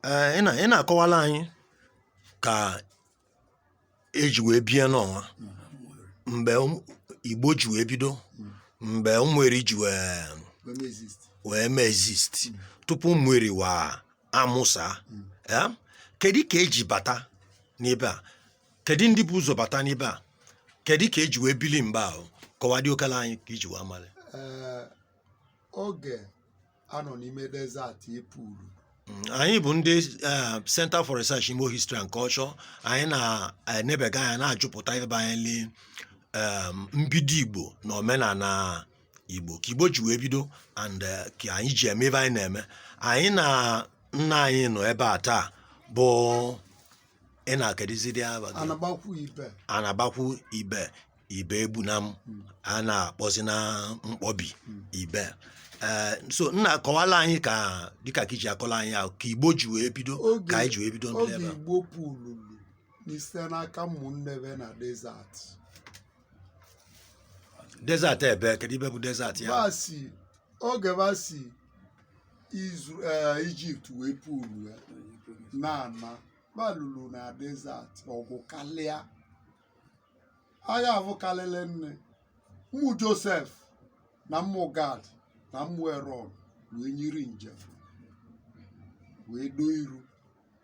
Ee, ị na- ị na-akọwala anyị ka eji wee bie n'ọnwa mgbe ụm- igbo ji wee bido mgbe ụmụeri ji wee wee mee exist tupu ụmụeri wa amụsa kedu ka eji bata n'ebe a kedu ndị bu ụzọ bata n'ebe a kedu ka eji wee bili mgbe ahụ kọwadị okala anyị ka i ji wee malị Ee, oge a nọ n'ime desert epuru anyị bụ ndị eh, Center for Research Igbo History and Culture anyị na-enebega anya na-ajụpụta banyeli em, mbido Igbo na omenala Igbo ka Igbo ji wee bido and eh, ka anyị ji eme ive anyị na-eme anyị na nna anyị nọ ebe a taa bụ nna kedizidi ava gị anabakwu ibe anabakwu ibe Ibegbunam a na-akpọzi na mkpọbi ibe ee so nna akọwala anyị ka dịka ka iji akọla anyị ahụ ka igbo ji wee bido Oge- ka anyị ji wee bido ndị oge ebe a igbo pụlulu n'ise n'aka ụmụnne ve na desert desert ebe kedu ive bụ desert ya va si oge va si izu eh, ijipt wee pụlu ya na-ana balulu na desert ọgụ kalịa agha avụ kalịlị nne ụmụ josef na ụmụ gad na ụmụ erọn wee nyiri njem wee doo iru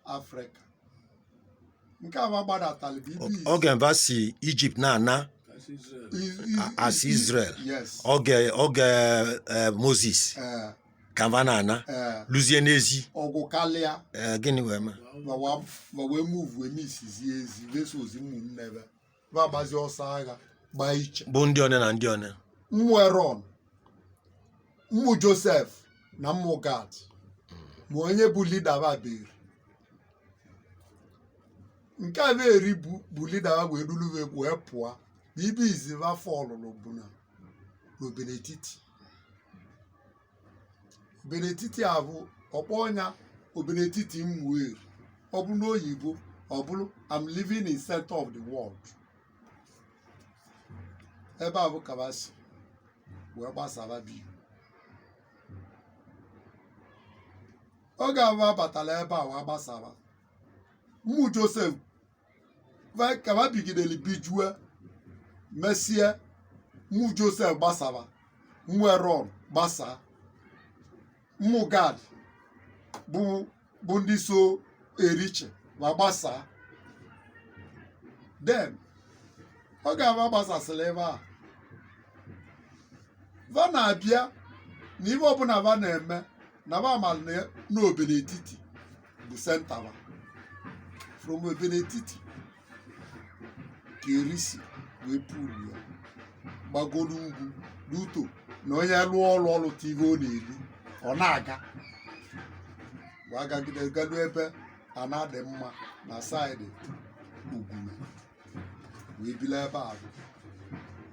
afrịka nke a va gbadatalị bụ ibu izu oge va si ijipt na-ana Is- is- as is- israel yes oge oge eh, moses ee ka va na-ana ee luzie n'ezi ọgụ kalịa ee gịnị wee mee ma wa- ma wee muvu eme isizi ezi va esozi mmụnne ve va agbazi ọsọ agha gbaa iche bụ ndị one na ndị one mmụ eron mmụ josef na mmụ gad ma onye bụ lida va bụ Eri nke a Eri bụ bụ lida va wee dulu ve wee pụọ na ebe izizi va fọlụlụ bụ na n'Obinetiti Obinetiti avụ a kpọọ nya Obinetiti Ụmụeri ọ bụrụ n'oyibo ọ bụrụ I'm living in center of the world ebe avụ ka va si wee gbasaba bi oge avụ va batalụ ebe a wee gbasaba mmụ Josef ka va bigidere bijue mesie ụmụ josef gbasara ụmụ erọn gbasaa ụmụ gad bụ ndị so eriche ma gbasaa then oge va gbasasịrị ebe a va na-abịa na ive ọbụla va na-eme na va mara na n'obenetiti bụ central from obenetiti ka eri si wee pụrụ ya gbagoro ugwu n'uto na onye lụọ ọrụ ọ rụta ihe ọ na-eri ọ na-aga wee gagide galu ebe ana dị mma na side ugwu wee biri ebe ahụ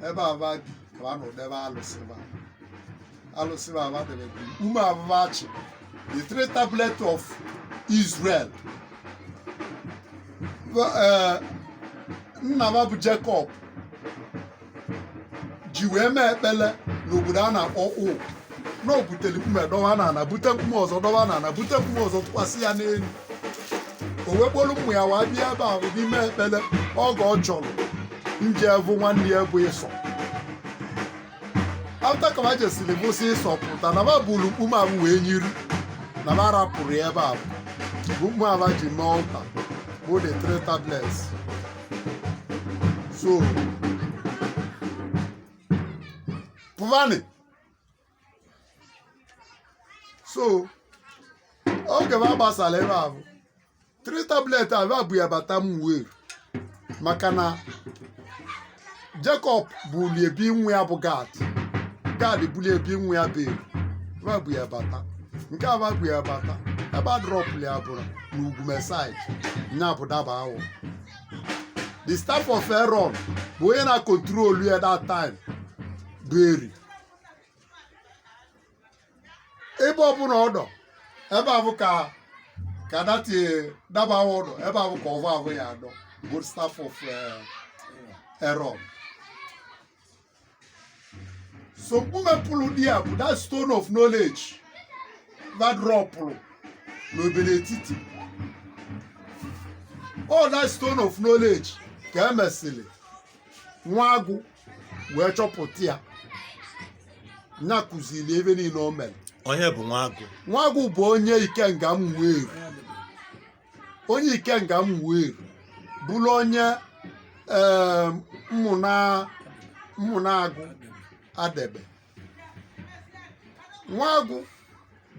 ebe ahụ va bi ka a nọ debe alụsị va alụsị va ahụ debe bi ume abụba achị the three tablet of Israel Ba- eh, nna va bụ Jacob ji wee mee ekpele n'obodo a na-akpọ ụụ na o butere mkpume dọwa na ana bute mkpume ọzọ dọwa na ana bute mkpume ọzọ tụkwasị ya n'elu o wee kpolu ụmụ ya wee bịa ebe ahụ ime ekpele oge ọ chọrọ ije vụ nwanne ya bụ ịsọ after ka va jesiri vụsị ịsọ pụta na va buru mkpume ahụ wee nyiri na va rapụrụ ya ebe ahụ bụ mkpume ahụ ji mee altar bụ the three tablets so pụvanị so oge va gbasara ebe ahụ three tablet ahụ e bu ya bata ụmụeri maka na Jacob bulie bi nwa ya bụ gad gad bulie bi nwa ya bụ eri ebe bu ya bata nke e bu ya bata ebe a drọpụrụ ya bụrụ n'ugume side nya bụ dabawọ the staff of Aaron bụ onye na-control ya that time bụ eri ebe ọbụla ọ dọ ebe avụ ka that dabawọ dọ ebe avụ ka ọvọ avụ ya adọ bụ staff of Aaron so mkpume pụrụ di ya bụ that stone of knowledge va drọpụrụ n'obenetiti all that stone of knowledge ka e mesịrị nwa agụ wee chọpụta ya nya kụziri ive niile o mere onye bụ nwa agụ nwa agụ bụ onye ikenga ụmụeri onye ikenga ụmụeri bụrụ onye ee, mmụna mmụna agụ adegbe nwagwụ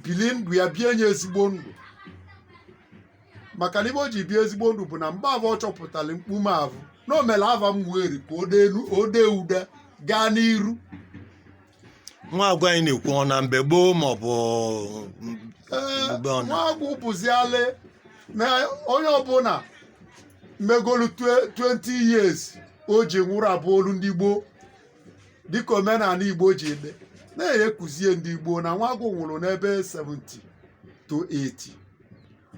bili ndụ ya bie nya ezigbo ndụ maka na ive o ji bie ezigbo ndụ bụ na mgbe avụ ọ chọpụtara mkpume avụ na o mere ava ụmụeri ka o dee elu- o dee ude gaa n'iru nwagwụ anyị na-ekwu ọ na mgbe gboo ma ọ bụ Ee, Mgbe ọ na- nwagwụ bụzialị na onye ọbụla megolu twe- 20 years o ji nwụrụ abụgolu ndị gboo dịka omenani igbo ji eme na-ekuzie ndị igbo na nwagwụ nwụrụ n'ebe 70 to 80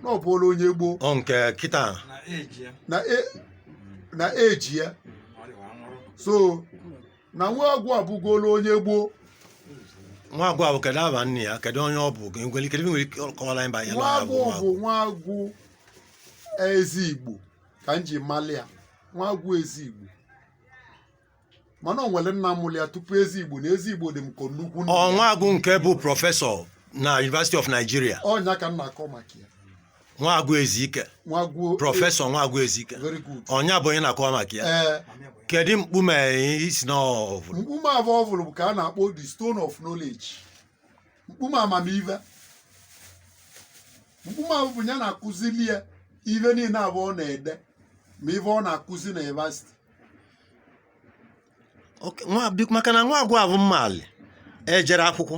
na ọ bụrụ onye gboo ọ nke kịta na eji ya na e- na eji ya ọ dịwa nwụrụ so na nwagwụ abụgolo onye gboo nwagwụ avụ kedu ava nna ya kedu onye ọ bụ ka nwere ike nwere ike kọwara anyị banyere nwagwụ bụ nwagwụ ezi igbo ka m ji mali ya nwagwụ ezi igbo mana o nwere nna mụrụ ya tupu ezi igbo na ezi igbo dị m ka nnukwu nna ọ nwagwụ nke bụ prọfesọ na University of Nigeria ọ nya ka m na-akọ maka ya nwagwụ ezike nwagwụ prọfesọ nwagwụ ezike very good ọ nya bụ onye na-akọwa maka ya ee kedu mkpume ị sị na ọ vụlụ mkpume avụ ọ vụlụ bụ ka a na-akpọ the stone of knowledge mkpume amamive mkpume avụ bụ nya na-akụzili ya ive niile avụ ọ na-ede ma ive ọ na-akụzi na yunivasiti Ok, nwa- bi- maka na nwagwụ avụ m maalị ejerọ akwụkwọ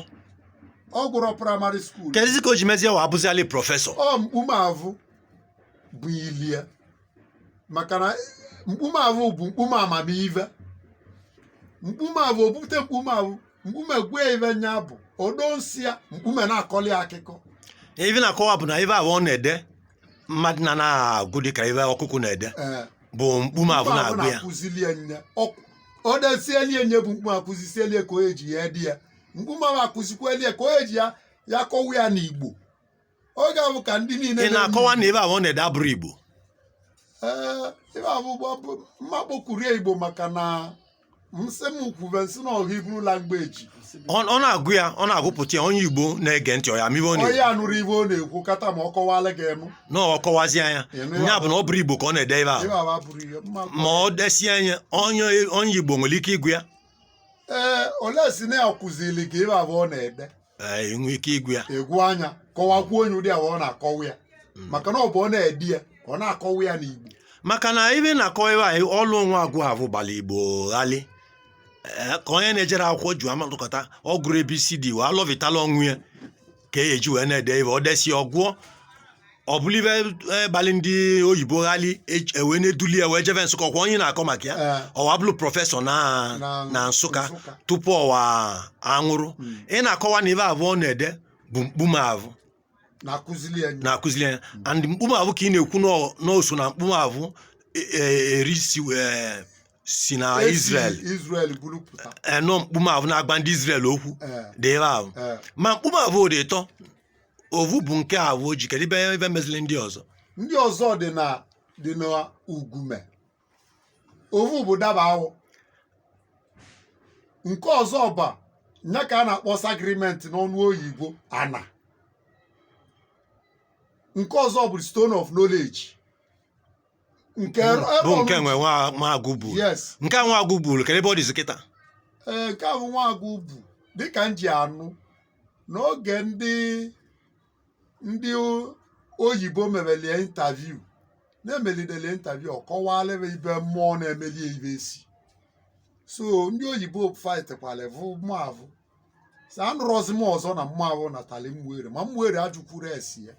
ọ gụrọ praịmarị skuul kedụzi ka o ji mezie wa abụzialị prọfesọ ọ mkpume avụ bụ ilie maka na mkpume avụ bụ mkpume amamive mkpume avụ obute mkpume avụ mkpume gwa ive nya bụ odo nsị ya mkpume na-akọli akụkọ ive na-akọwa bụ na ive avụ ọ na-ede mmadụ na na-agụ dịka ive ọkụkụ na-ede ee bụ mkpume avụ mkpume avụ na-agụ ya na-akụzilie nya Ọ- ọ desielie nya bụ mkpume akụzisielie ka o ji ya-ede ya mkpume avụ akụzikwelie ka o ji ya ya-akọwa ya n'igbo ọ ga-abụ ka ndị niile ị na-akọwa na ive avụ ọ na-ede abụrọ igbo Ee, ive avụ bụ bụ mma kpọkwurie igbo maka na nsị m kwuve nsị na ọha Hebrew language ọ ọ na-agụ ya ọ na-agụpụta ya onye igbo na-ege ntị ọ ya-ama ive ọ na-ekwu onye anụrọ ive ọ na-ekwu kata ma ọ kọwala gị enu na ọ kọwazi nya ya bụ na ọ bụrọ igbo ka ọ na-ede ive avụ ive avụ abụrụ ihe mma ma ọ desie nya onye onye igbo nwere ike ịgụ ya ee olee si na ya kụziri gị ive avụ ọ na-ede ee, i nwe ike ịgụ ya ị gụọ nya kọwakwuo onye ụdị avụ ọ na-akọwa ya maka na ọ bụ ọ na-ede ya ọ na-akọwa ya n'igbo maka na ive na-akọwa ive anyị ọlụ nwagwụ avụ gbara igbo ghali Ee, ka onye na-ejerọ akwụkwọ ji amalụkọta ọ gụrọ abcd wee alọvitala onwe ya ka ọ ya-eji wee na-ede ive o desi ọ gụọ ọ bụrụ ive gbalị ndị oyibo ghali ewee na-eduli ya wee jeve nsụka ọkwa onye na-akọ maka ya Ee. ọwa bụrụ prọfesọ na Na- na nsụka Nsụka. tupu ọwa anwụrụ Mm. ị na-akọwa na ive avụ ọ na-ede bụ mkpume avụ na-akụzili ya na-akụzili anya and mkpume avụ ka ị na-ekwu n'ọ- n'ọ so na mkpume avụ e- e- eri si wee- si na Esi Israel Israel buru pụta enọ mkpume avụ na-agwa ndị Israel okwu Ee. dị ebe ahụ Ee. ma mkpume avụ dị ịtọ ovu bụ nke avụ o ji kedu ive ive mezili ndị ọzọ ndị ọzọ dị na dị na ugume ovu bụ daba awọ nke ọzọ bụ nya ka a na-akpọ sị agreement n'ọnụ oyibo ana nke ọzọ bụ stone of knowledge nke ebe bụ ọ nke bụ- nwe nwa Nwagụ vụrụ yes nke a Nwagụ vụrụ kedu ebe ọ dịzi kịta ee nke avụ Nwagụ bụ dịka m ji anụ n'oge ndị ndị o- oyibo memelie interview na-emelidele interview ọ kọwalị ibe mmụọ na-emelie ibe esi so ndị oyibo fightkwala vụ mmụọ avụ sị anụrọzi m ọzọ na mmụọ avụ natali mgbere ma mgbere ajụkwuru esi ya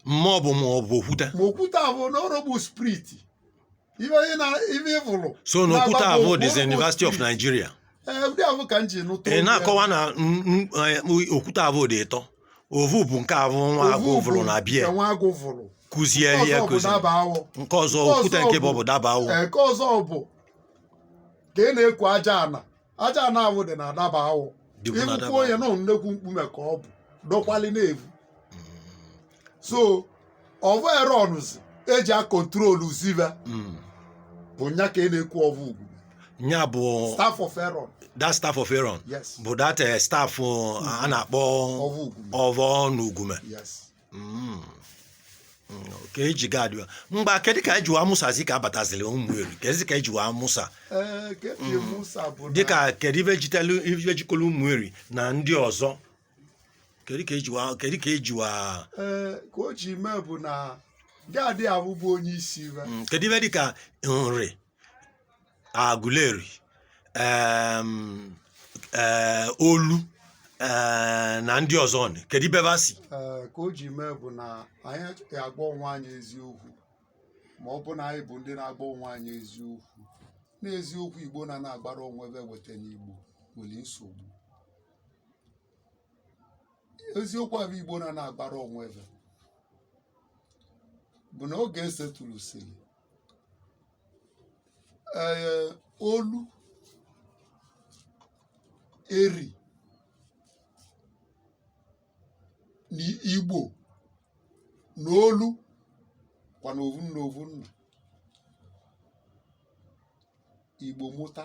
mmụọ bụ ma ọ bụ okwute ma okwute ahụ na ọrụ bụ spirit ive ị na ive ị vụrụ so na okwute Na-agba avụ bụ- dịzi bụ University of spirit. Nigeria ee ụdị ahụ ka m ji nụta ị olu ya. na-akọwa na n- n- eh, okwute avụ dị ịtọ ovu bụ nke avụ Nwagụ Ovu vụrụ bụ na bie nke Nwagụ vụrụ kụzie Nke ya ọzọ bụ kụzi daba awọ nke ọzọ Nke okwute ọzọ nke bụ bụ- ọbụ daba awọ Ee, nke ọzọ bụ ka ị na-ekwu aja ana aja ana avụ dị na daba awọ Dịkwu na ịkwụkwọ onye daba. nọ nnekwu mkpume ka ọ bụ dọkwali na-evu so ọvọ Aaron ụzi eji acontrolzi ive Mm. bụ nya ka ị na-ekwu ọvọ ugume nya bụ staff of Aaron that staff of Aaron yes bụ that eh, staff uh, a na-akpọ ọvọ ugwu ọvọ n'ugume yes Mm. Mm, ka eji Gad wa mgba kedụ ka eji wa mụsazi ka abataziri ụmụ eri kedụ ka eji wa mụsa Ee, ka eji mụsa bụ na- dịka kedụ ive jitelu ive jikọrọ ụmụ eri na ndị ọzọ kedụ ka eji wa kedụ ka eji wa Ee, ka o ji mee bụ na Gad ahụ bụ onye isi ive Mm, kedụ ive dịka nri Aguleri um, eh, Olu eh, na ndị ọzọ ọnụ. kedu ive va si Ee, ka o ji mee bụ na anyị achọghị agwa onwe anyị eziokwu ma ọ bụ na anyị bụ ndị na-agwa onwe anyị eziokwu n'eziokwu igbo na na-agwarọ onwe ve weta n'igbo nwere nsogbu eziokwu avụ igbo na na-agwarọ onwe ve bụ na oge esetụrụ siri ee eh, olu eri na igbo na olu kwa na ovu nna ovu nna igbo mụta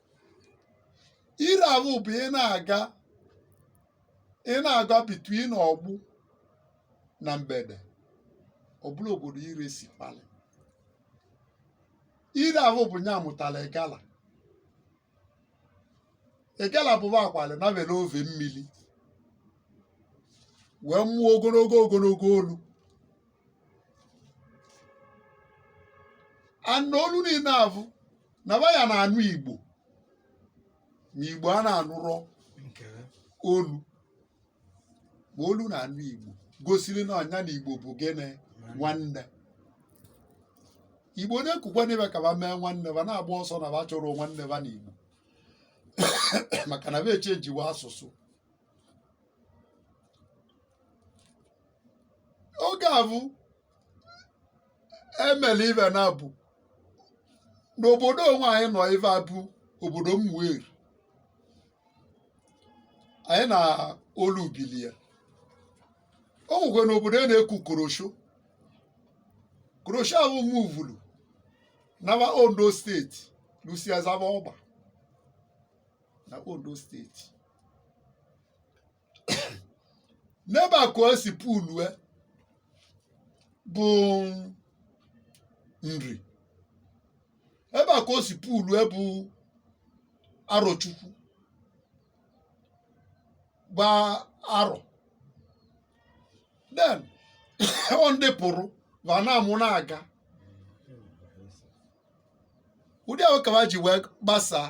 ire avụ bụ ị na-aga ị na-aga between Ogbu na Mgbede ọbụla obodo ire si kpali ire avụ bụ nya mụtara Igala Igala bụ va akwali na were ove mmiri wee mụọ ogologo ogologo olu and olu niile avụ na va ya na-anụ igbo ma igbo a na-anụrọ olu ma olu na-anụ igbo gosiri na ọ nya na igbo bụ gịnị nwanne igbo na-ekukwa n'ive ka va mee nwanne va na-agba ọsọ na va chọrọ nwanne va na igbo maka na va echenjiwa asụsụ oge avụ emela ive na-abụ n'obodo onwe anyị nọ ive avụ obodo Ụmụeri anyị na olu bilie o nwekwe n'obodo a na-eku korosho korosho ahụ muvulu nawa Ondo state lusiazaba ọgba na Ondo state n'ebe a ka o si pulue bụ Nri ebe a ka o si pulue bụ Arochukwu gba arọ then ọ ndị pụrụ va na-amụ na-aga ụdị ahụ ka ha ji wee gbasaa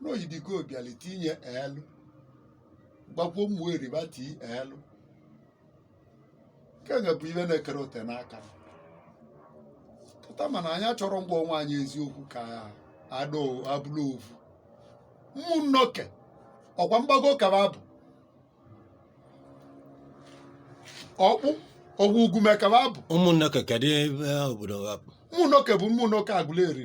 n'ọ Idigo bịali tinye elu gbakwuo Ụmụeri bati elu nke nga bụ ive na-ekere ote n'aka m. pụta mana anyị chọrọ ngwa onwe anyị eziokwu ka ada o- abụrụ ovu Umunoke ọkwa Mgbago ka va bụ Okpu ọ bụ Ugume ka va bụ Umunoke kedị ebe obodo ha bụ Umunoke bụ Umunoke Aguleri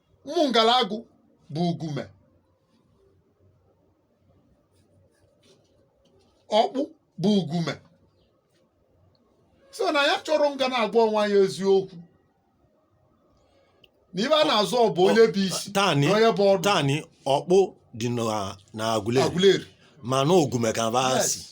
Umungalagu bụ Ugume Okpu bụ Ugume so na anyị chọrọ nga na-agwa onwe anyị eziokwu na ive a na-azọ ọ bụ onye bụ isi tani na onye bụ ọdụ tani Okpu dị na na Aguleri Aguleri mana Ugume ka va si Yes.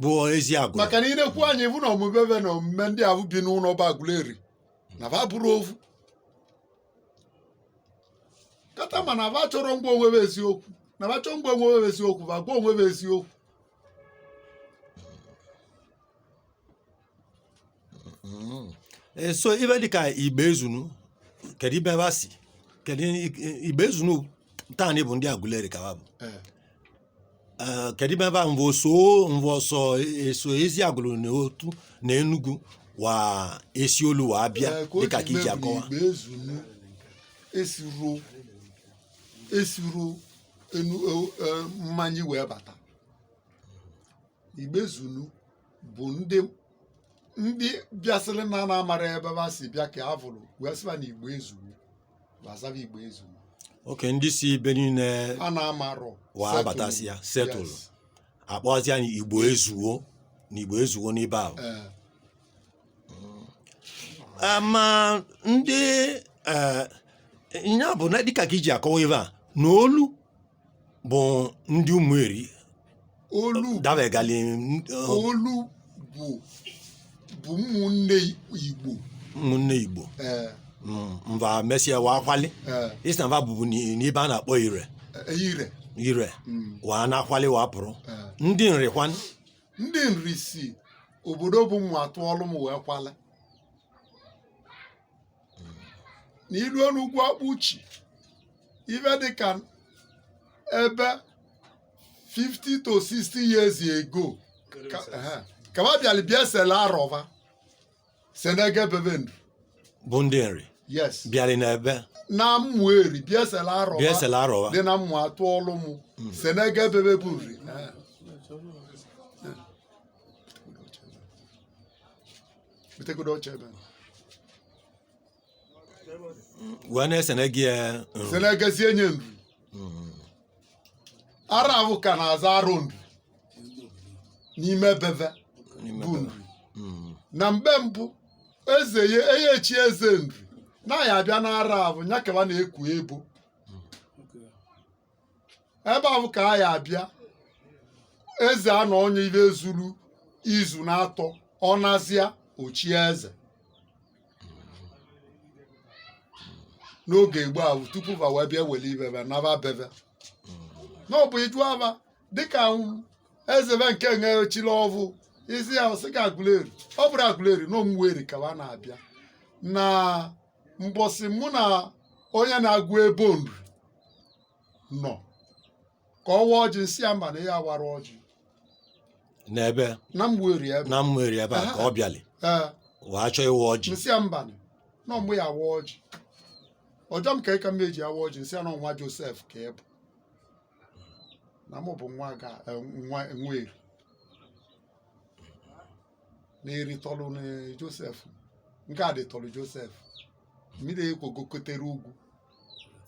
bụ Eziagulu maka na i nekwu anya ị vụ na omume ba na omume ndị ahụ bi n'ụlọ bụ Aguleri na ba bụrụ ofu kata ma na ba chọrọ ịgwa onwe ba eziokwu na ba chọọ ịgwa onwe ba eziokwu ba gwa onwe ba eziokwu Mm. Eh, so ive dịka Igboezunu kedu ibe va si kedu i- Igboezunu taanị bụ ndị Aguleri ka va bụ Eh, Eh, kedu ibe va mva so mva so eso Eziagulu na Otu na Enugu wa esi olu wa abịa eh, ka o dịka ka ji iji mee bụ na akọwa Igboezunu esiro esiro enu eh, eh, mmanya wee bata Igboezunu bụ ndị ndị bịasịrị na a na-amarọ ebe ha si bịa ka a vụrụ wee sịba na Igbo ezuwo gbasara Igbo ezuwo oke ndị si ibe niile a na-amarọ wa settle. abatasịa settle Yes. akpọzia nya Igbo ezuwo na Igbo ezuwo n'ibe ahụ Eh, Eh, ma ndị eh, ya bụ na dịka ka iji akọwa ibe a na olu bụ ndị Ụmụeri olu dabegali olu bụ bụ ụmụnne igbo ụmụnne igbo ee Mm, mva mesịa wa akwali ee isi na mva bụbu n'i- n'ibe a na-akpọ Ire Ire Ire Mm, wa na-akwali wa pụrụ ee. ndị Nri kwanụ ndị Nri si obodo bụ Umuatuolum wee kwali na iruo n'ugwu akpuchi ife dịka ebe 50 to 60 years ago ka- ehe, ka ba bịara bịa sele arọ ba senege be ba ndụ bụ ndị Nri yes bịara n'ebe na Ụmụeri bịa sele arọ ba bịa esela arọ wa dị na Umuatuolum senege be ba bụ Nri ehe. butegodo oche ebe wee na-esenege ya Nri. senegezie nya Nri arọ ahụ ka na-aza arọ Nri n'ime be va N'ime bụ be ba. Nri Mm. na mgbe mbụ eze ya a ya-echi eze Nri na ya abịa n'arọ ahụ ya ka wa na-eku ebo ebe ahụ ka a ya abịa eze anọọ nya ive zuru izu n'atọ ọ nazịa o chie eze n'oge gboo ahụ tupu va wee bịa were ive va naba be va na ọ bụ iju aba dịka eze va nke e chile ọvụụ isi ya sị ka Aguleri ọ bụrụ Aguleri na Ụmụeri ka va na-abịa na mbọsị mụ na onye na-agụ ebo Nri nọ ka ọ wa ọjị m sị ya mba na ị ya awara ọjị n'ebe na mgberi ebe na Ụmụeri ebe a ka ọ bịali ee wee chọọ ịwa ọjị m sị ya mba na ọ mụ ya-awa ọjị ọ jụọ m ka ịka m ji awa ọjị m sị ya na nwa Josef ka ị bụ na mụ bụ nwa ga eh, nwa nwa Eri na Eri tọlụ na Josef na Gadi tọlụ Josef mmiri ekwogokotere ugwu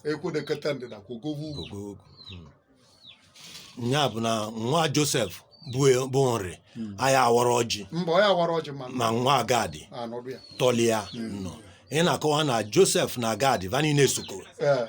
ekwodekọta ndịda kwogowe ugwu ogo ogo Mm. ya bụ na nwa Josef bụ bụ Nri a ya awara ọjị mba ọ ya wara ọjị ma ma nwa Gadi anọdụ ya tọlị ya nọ ị na-akọwa na Josef na Gadi va niile sokoro ee